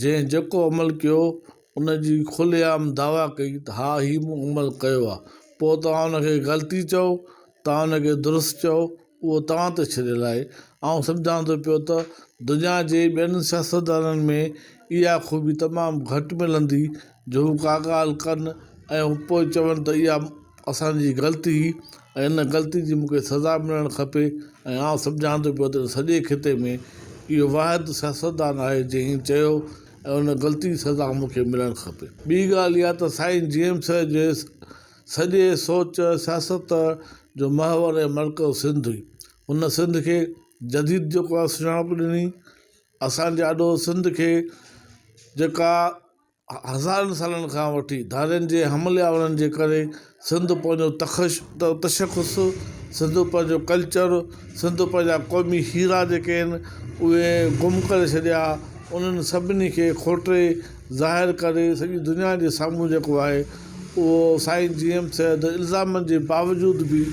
جنهن جيڪو عمل ڪيو، ان جي کلي عام دعويٰ ڪئي ته ها هي مون عمل ڪيو آهي، پوء توهان ان کي غلطي چئو، توهان ان کي درست چئو، اهو توهان تي ڇڏيل آهي. آئون سمجهان ٿو پيو ته دنيا جي ٻين سياستدانن ۾ اها خوبي تمام گهٽ ملندي جو هو ڪا ڳالهه ڪن ۽ پوء چون ته اها اسان جي غلطي هئي ۽ ان غلطي جي مون کي سزا ملڻ کپي ۽ آئون سمجهان ٿو پيو ته سڄي خطي ۾ اهو واحد سياستدان آهي جنهن هيء چيو ۽ ان غلطي جي سزا مون کي ملڻ کپي. ٻي ڳالهه اها ته سائين جي ايم سيد جي سڄي سوچ سياست جو محور ۽ مرڪز سنڌ هئي. هن سنڌ کي جديد جيڪا سڃاڻپ ڏني، اسان جي آڏو سنڌ کي جيڪا هزارن سالن کان وٺي ڌارين جي حملي آورن جي ڪري سنڌ پنهنجو تخش تشخص سنڌ پنهنجو ڪلچر سنڌ پنهنجا قومي هيرا جيڪي آهن اهي گم ڪري ڇڏيا انهن سڀني کي کوٽي ظاهر ڪري سڄي دنيا جي سامهون جيڪو آهي اهو سائين جي ايم سيد الزامن جي باوجود بي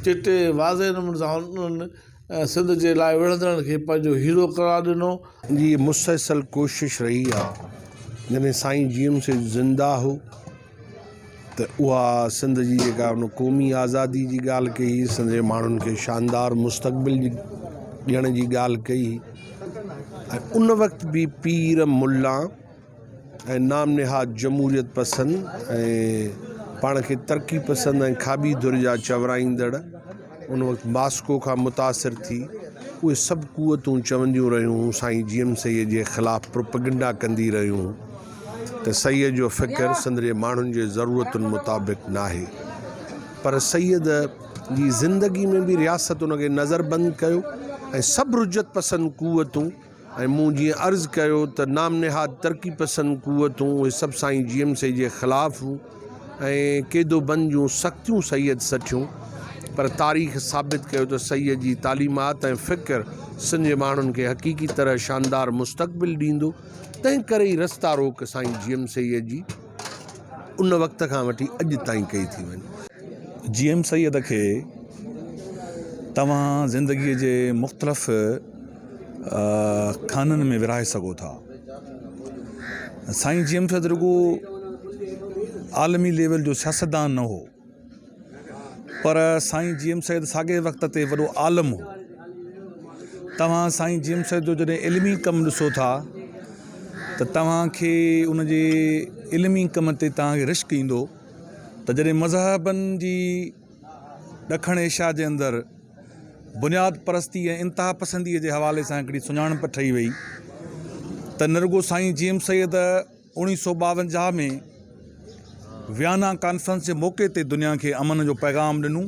چٽي واضح نموني سان انهن ۽ سنڌ جي لاء وڙهندڙن کي پنهنجو هيرو قرار ڏنو. جي مسلسل ڪوشش رهي آ جڏهن سائين جي ايم سيد زنده هو ته اها سنڌ جي جيڪا ان قومي آزادي جي ڳالهه ڪئي هئي سنڌ جي ماڻهن کي شاندار مستقبل جي ڏيڻ جي ڳالهه ڪئي هئي ۽ ان وقت به پير ملا ۽ نام نهاد جمهوريت پسند ۽ پاڻ کي ترقي پسند ۽ کاٻي ڌر جا چورائيندڙ ان وقت ماسڪو کان متاثر ٿي اهي سڀ قوتون چونديون رهيون سائين جي ايم سيد جي خلاف پروپيگنڊا ڪندي رهيون ته سيد جو فڪر سندري ماڻهن جي ضرورتن مطابق ناهي پر سيد جي زندگي ۾ به رياست ان کي نظر بند ڪيو ۽ سڀ رجعت پسند قوتون ۽ مون جيئن عرض ڪيو ته نام نهاد ترقي پسند قوتون اهي سڀ سائين جي ايم سي جي خلاف هون ۽ قيدو بند جون سختيون سيد سٺيون پر تاريخ ثابت ڪيو ته سيد جي تعليمات ۽ فڪر سنڌ جي ماڻهن کي حقيقي طرح شاندار مستقبل ڏيندو تنهن ڪري ئي رستا روڪ سائين جي ايم سي جي ان وقت کان وٺي اڄ تائين ڪئي ٿي وڃي. جي ايم سيد کي توهان زندگي جي مختلف خانن ۾ ورهائي سگهو ٿا. سائين جي ايم شيد رڳو عالمي ليول جو سياستدان نه هو پر سائين جي ايم شيد ساڳئي وقت تي وڏو عالم هو توهان سائين جي ايم شيد جو جڏهن علمي ڪم ڏسو ٿا ته توهانکي ان جي علمي ڪم تي توهانکي رشڪ ايندو ته جڏهن مذهبن جي ڏکڻ ايشيا جي اندر بنياد پرستي ۽ انتها پسنديء جي حوالي سان هڪڙي سڃاڻپ ٺهي وئي ته نه رڳو سائين جي ايم سيد اوڻيهه سو ٻاونجاهه ۾ ويانا ڪانفرنس جي موقعي تي دنيا کي امن جو پيغام ڏنو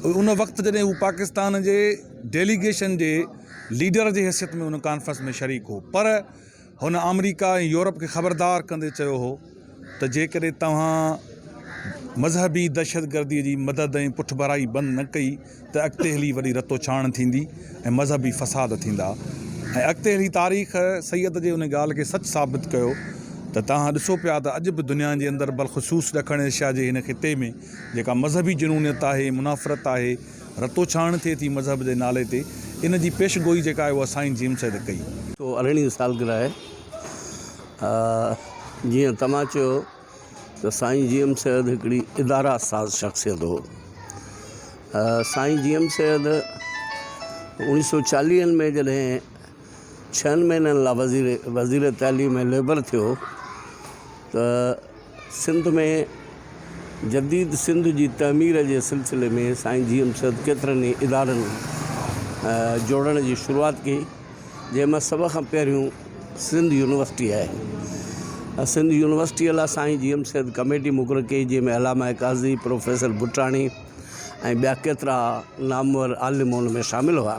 ان وقت جڏهن هو پاڪستان جي ڊيليگيشن جي ليڊر جي حيثيت ۾ ان ڪانفرنس ۾ شريڪ هو پر هن آمريڪا ۽ يورپ کي خبردار ڪندي چيو هو ته جيڪڏهن توهان مذهبي دهشتگردي جي مدد ۽ پٺڀرائي بند نه ڪئي ته اڳتي هلي وڏي رتوڇاڻ ٿيندي ۽ مذهبي فساد ٿيندا ۽ اڳتي هلي تاريخ سيد جي ان ڳالهه کي سچ ثابت ڪيو ته توهان ڏسو پيا ته اڄ به دنيا جي اندر بلخصوص ڏکڻ ايشيا جي هن خطي ۾ جيڪا مذهبي جنونيت آهي منافرت آهي رتوڇاڻ ٿئي ٿي مذهب جي نالي تي ان جي پيش گوئي جيڪا آهي اها سائين جيمس سيد ڪئي. ڪو ارڙهين سالگرهه آهي آء جيئن توهان چيو ته سائين جيمس سيد هڪڙي اداره ساز شخصيت هو سائين جيمس سيد اوڻيهه سو چاليهن ۾ جڏهن ڇهن مهينن لا وزير وزير تعليم ۽ ليبر ٿيو ته سنڌ ۾ جديد سنڌ جي تعمير جي سلسلي ۾ سائين جي ايم سيد ڪيترن ئي ادارن جوڙڻ جي شروعات ڪئي جنهن مان سڀ کان پهريون سنڌ يونيورسٽي آهي سنڌ يونيورسٽي لا سائين جي ايم سيد ڪميٽي مقرر ڪئي جنهن ۾ علامه قاضي پروفيسر بٽاڻي ۽ ٻيا ڪيترا نامور عالم ان ۾ شامل هئا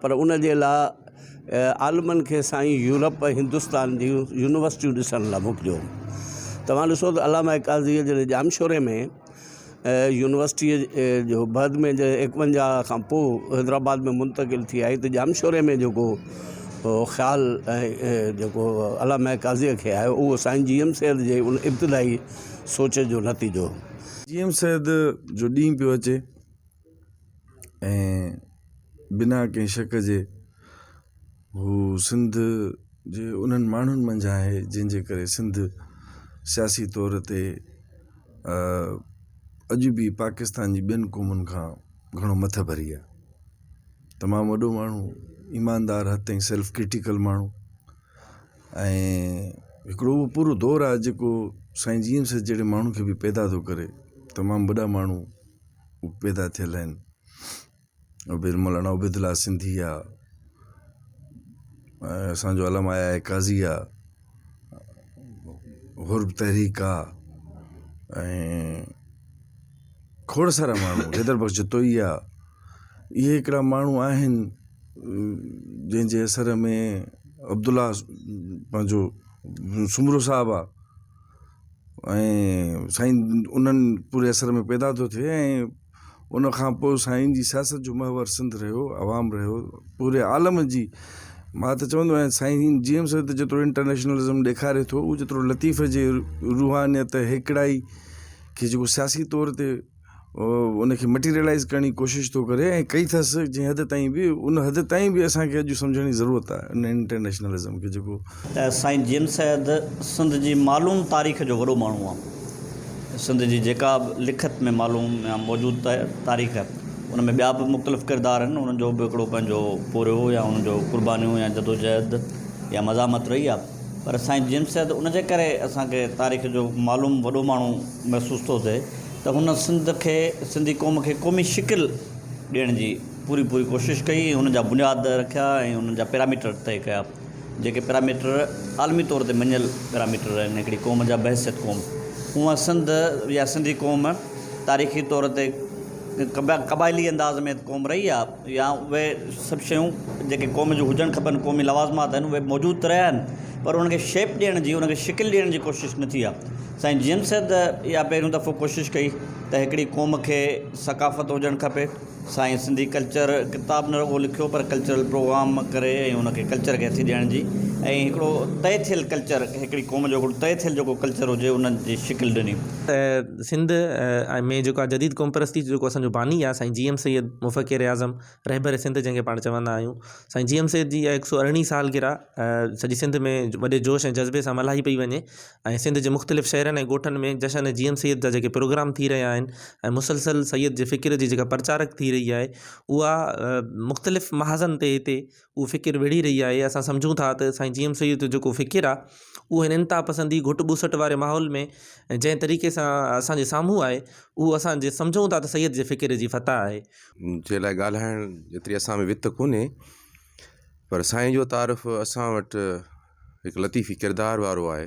پر ان جي لاء عالمن کي سائين يورپ ۽ هندستان جون يونيورسٽيون ڏسڻ لاء موڪليو. توهان ڏسو ته علامه قاضيء جڏهن ڄامشوري ۾ يونيورسٽيء جو بعد ۾ جڏهن ايڪونجاهه کان پوء حيدرآباد ۾ منتقل ٿي آئي ته ڄامشوري ۾ جيڪو خيال ۽ جيڪو علامه قاضيء کي آيو اهو سائين جي ايم سيد جي ان ابتدائي سوچ جو نتيجو هو. جي ايم سيد جو ڏينهن پيو اچي. ۽ بنا ڪنهن شڪ جي هو سنڌ جي انهن ماڻهن منجهان آهي جنهن جي ڪري سنڌ سياسي طور تي اڄ به پاڪستان جي ٻين قومن کان گهڻو مٿي ڀري آهي تمام وڏو ماڻهو ايماندار حد تائين سيلف ڪرٽيڪل ماڻهو ۽ هڪڙو هو پورو دور آهي جيڪو سائين جي ايم سيد جهڙي ماڻهو کي به پيدا ٿو ڪري تمام وڏا ماڻهو پيدا ٿيل آهن عبيد مولانا عبيد الله سنڌي آ ۽ اسان جو علم آيا اي قاضي آ حر به تحريڪ آ ۽ کوڙ سارا ماڻهو حيدر بخش جتوئي آ اهي هڪڙا ماڻهو آهن جنهن جي اثر ۾ عبدالله پنهنجو سومرو صاحب آ ۽ سائين انهن پوري اثر ۾ پيدا ٿو ٿئي ۽ ان کان پوء سائين جي سياست جو محور سنڌ رهيو عوام رهيو پوري عالم جي مان ته چوندو آهيان سائين جي ايم سيد جيترو انٽرنيشنلزم ڏيکاري ٿو اوترو لطيف جي روحانيت هيڪڙائي کي جيڪو سياسي طور تي ان کي مٽيريلائز ڪرڻ جي ڪوشش ٿو ڪري ۽ ڪئي اٿس جنهن حد تائين به ان حد تائين به اسان کي اڄ سمجهڻ جي ضرورت آهي ان انٽرنيشنلزم کي جيڪو سائين جي ايم سيد سنڌ جي معلوم تاريخ جو وڏو ماڻهو آهي سنڌ جي جيڪا به لکت ۾ معلوم يا موجود تاريخ ان ۾ ٻيا به مختلف ڪردار آهن انهن جو به هڪڙو پنهنجو پورهيو يا انهن جو قربانيون يا جدوجهد يا مزاحمت رهي آهي پر سائين جيمس چيا ته ان جي ڪري اسان کي تاريخ جو معلوم وڏو ماڻهو محسوس ٿو ٿئي ته هن سنڌ کي سنڌي قوم کي قومي شڪل ڏيڻ جي پوري پوري ڪوشش ڪئي ۽ ان جا بنياد رکيا ۽ انهن جا پيراميٽر طئي ڪيا جيڪي پيراميٽر عالمي طور تي مڃيل پيراميٽر آهن هڪڙي قوم جا بحثيت قوم هونئن سنڌ يا سنڌي قوم تاريخي طور تي قبائلي انداز ۾ قوم رهي آهي يا اهي سڀ شيون جيڪي قوم جون هجڻ کپن قومي لوازمات آهن اهي موجود ته رهيا آهن پر انهن کي شيپ ڏيڻ جي انهن کي شڪل ڏيڻ جي ڪوشش نه ٿي آهي سائين جي ايم سيد اها پهريون دفعو ڪوشش ڪئي ته هڪڙي قوم کي ثقافت هجڻ کپي سائين سنڌي ڪلچر ڪتاب نه رڳو لکيو پر ڪلچرل پروگرام ڪري ۽ ان کي ڪلچر کي هٿي ڏيڻ جي ۽ هڪڙو طئي ٿيل ڪلچر هڪڙي قوم جو هڪڙو طئي ٿيل جيڪو ڪلچر هجي ان جي شڪل ڏني سنڌ ۾ جيڪا جديد قوم پرستي جيڪو اسان جو باني آ سائين جي ايم سيد مفڪر اعظم رهبر سنڌ جنهن کي پاڻ چوندا آهيون سائين جي ايم سيد جي اهيا هڪ سو ارڙهين سالگرهه سڄي سنڌ ۾ وڏي جوش ۽ جذبي سان ملهائي پئي وڃي ۽ سنڌ جي مختلف شهرن ۽ ڳوٺن ۾ جشن جي ايم سيد جا جيڪي پروگرام ٿي رهيا آهن ۽ مسلسل سيد جي فڪر جي جيڪا پرچارڪ ٿي رهي آهي اها مختلف محاذن تي هتي اها فڪر وڙهي رهي آهي اسان سمجهون ٿا ته سائين جي ايم سيد جو جيڪو فڪر آهي اهو هن انتها پسندي گهٽ ٻوسٽ واري ماحول ۾ جنهن طريقي سان اسانجي سامهون آهي اهو اسان جي سمجهون ٿا ته سيد جي فڪر جي فتح آهي. جي لاء ڳالهائڻ جيتري اسان ۾ وٿ ڪونهي پر سائين جو تعارف اسان وٽ هڪ لطيفي ڪردار وارو آهي.